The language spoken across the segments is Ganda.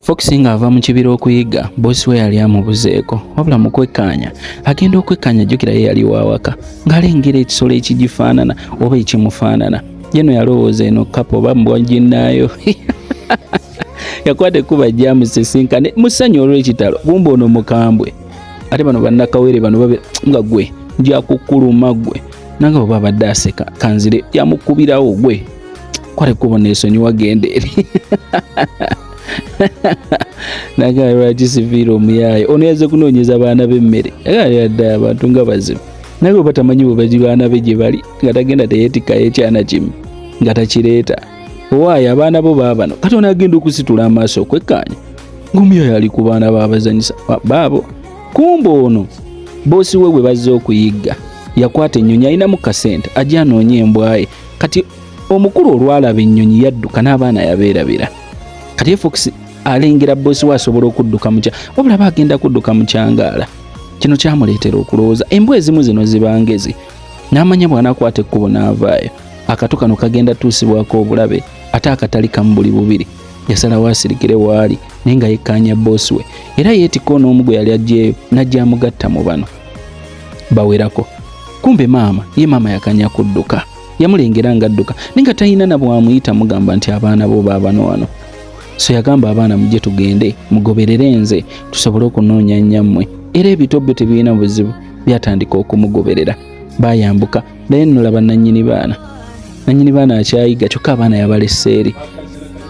Fox ng'ava mu kibira okuyigga boosi we yali amubuzeeko wabula mu kwekkaanya agenda okwekkaanya jjukira ye yali waawaka ng'alengera ekisolo ekigifaanana oba ekimufaanana yeno yalowooza eno kapa oba mbwa ginnaayo yakwata ekkuba jjamusisinkane mu ssanyu olw'ekitalo kumba ono mukambwe ate bano bannakawere bano babe nga gwe njakukuluma gwe nange oba abadde aseka kanzire yamukubirawo gwe kwali kubona esonyiwa genda eri nagala lwaki siviire omuyaaye ono yaze kunoonyeza baana b'emmere yadda abantu nga bazibu naye oba tamanyi bwebazi baana be gye bali nga tagenda teyeetikkayo ekyana kimu nga takireeta owaayo abaana bo baabano kati onaagenda okusitula amaaso okwekkaanya ng'omuyaaye ali ku baana baabazanyisa baabo kumba ono boosi we bwe bazze okuyigga yakwata ennyonyi alinamu kasente ajja anoonye embwaye kati omukulu olwalaba ennyonyi yadduka n'abaana yabeerabira kati efox alengera bosi we asobola okudduka mukya wabula aba agenda kudduka mukyangaala kino kyamuleetera okulowooza embwa ezimu zino zibangezi n'amanya bw'anakwata ekkubo n'avaayo akato kano kagenda tuusibwako obulabe ate akatali kamu buli bubiri yasalawo asirikire waali naye nga yekkaanya bosi we era yeetikka onoomu gwe yali ajjeeyo n'ajja amugatta mu bano bawerako kumbe maama ye maama yakanya kudduka yamulengera nga adduka naye nga talina na bwamuyita mugamba nti abaana bo baabano wano so yagamba abaana mujje tugende mugoberere nze tusobole okunoonya nnyammwe era ebito byo tebirina buzibu byatandika okumugoberera bayambuka naye nno laba nannyini baana nannyini baana akyayiga kyokka abaana yabaleseeri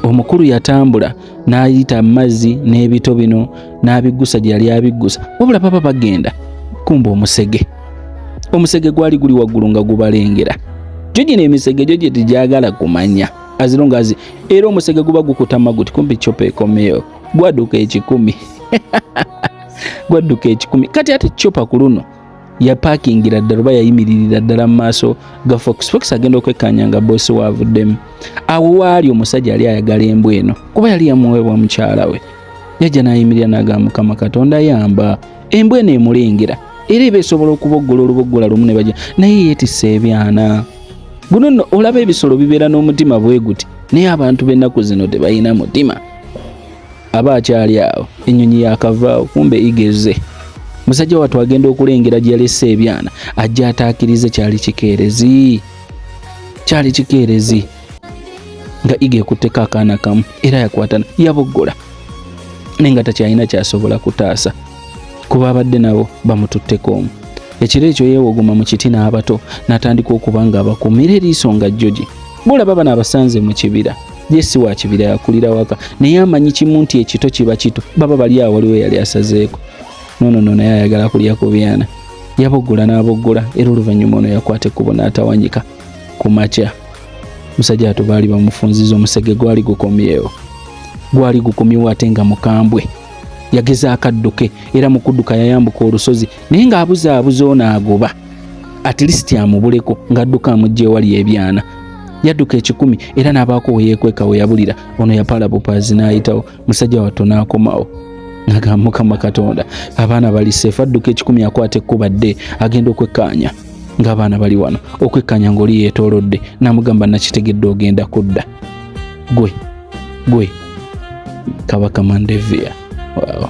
omukulu yatambula n'ayita amazzi n'ebito bino n'abiggusa gye yali abiggusa wabula baba bagenda kumba omusege omusege gwali guli waggulu nga gubalengera gyo gino emisege gyo gye tegyagala kumanya azirungazi era omusege guba gukutama guti kumpi copa ekomeyo gwaduka ekikumi gwadduka ekikumi kati ate copa ku luno yapakingira ddala oba yayimiririra ddala mu maaso ga fox fox agenda okwekkaanya nga boosi waavuddemu awo waali omusajja yali ayagala embwa eno kuba yali yamuweebwa mukyala we yajja n'ayimirira n'agamba mukama katonda yamba embwa eno emulengera era eba esobola okuboggola oluboggola lumu ne bajja naye yeetisse ebyana guno nno olaba ebisolo bibeera n'omutima bwe guti naye abantu b'ennaku zino tebalina mutima aba akyali awo ennyonyi yakavaawo kumbe igeze musajja wattu agenda okulengera gye yalese ebyana ajja ataakirize kyali kikeerezi kyali kikeerezi nga iga ekutteko akaana kamu era yakwatana yaboggola naye nga takyalina kyasobola kutaasa kuba abadde nabo bamututteko omu ekiro ekyo yeewogoma mu kiti n'abato n'atandika okuba nga abakuumira eriiso nga jjoji bulaba bano abasanze mu kibira ye si wa kibira yakulira waka naye amanyi kimu nti ekito kiba kito baba bali awo waliwo yali asazeeko nono no naye ayagala kulya ku byana yaboggola n'aboggola era oluvannyuma ono yakwata ekkubo n'atawanyika ku makya musajja atu baali bamufunziza omusege gwali gukomyewo gwali gukomyewo ate nga mukambwe yageza akadduke era mu kudduka yayambuka olusozi naye ng'abuzaabuza ono agoba at least amubuleko ng'adduka amugja ewali ebyana yadduka ekikumi era n'abaako we yeekweka we yabulira ono yapaala bupaazi n'ayitawo musajja wattu n'akomawo nagamba mukama katonda abaana bali seefu adduka ekikumi akwata ekkuba dde agenda okwekkaanya ng'abaana bali wano okwekkaanya ng'oli yeetoolodde namugamba nakitegedde ogenda kudda gwe gwe kabaka mandevia wow.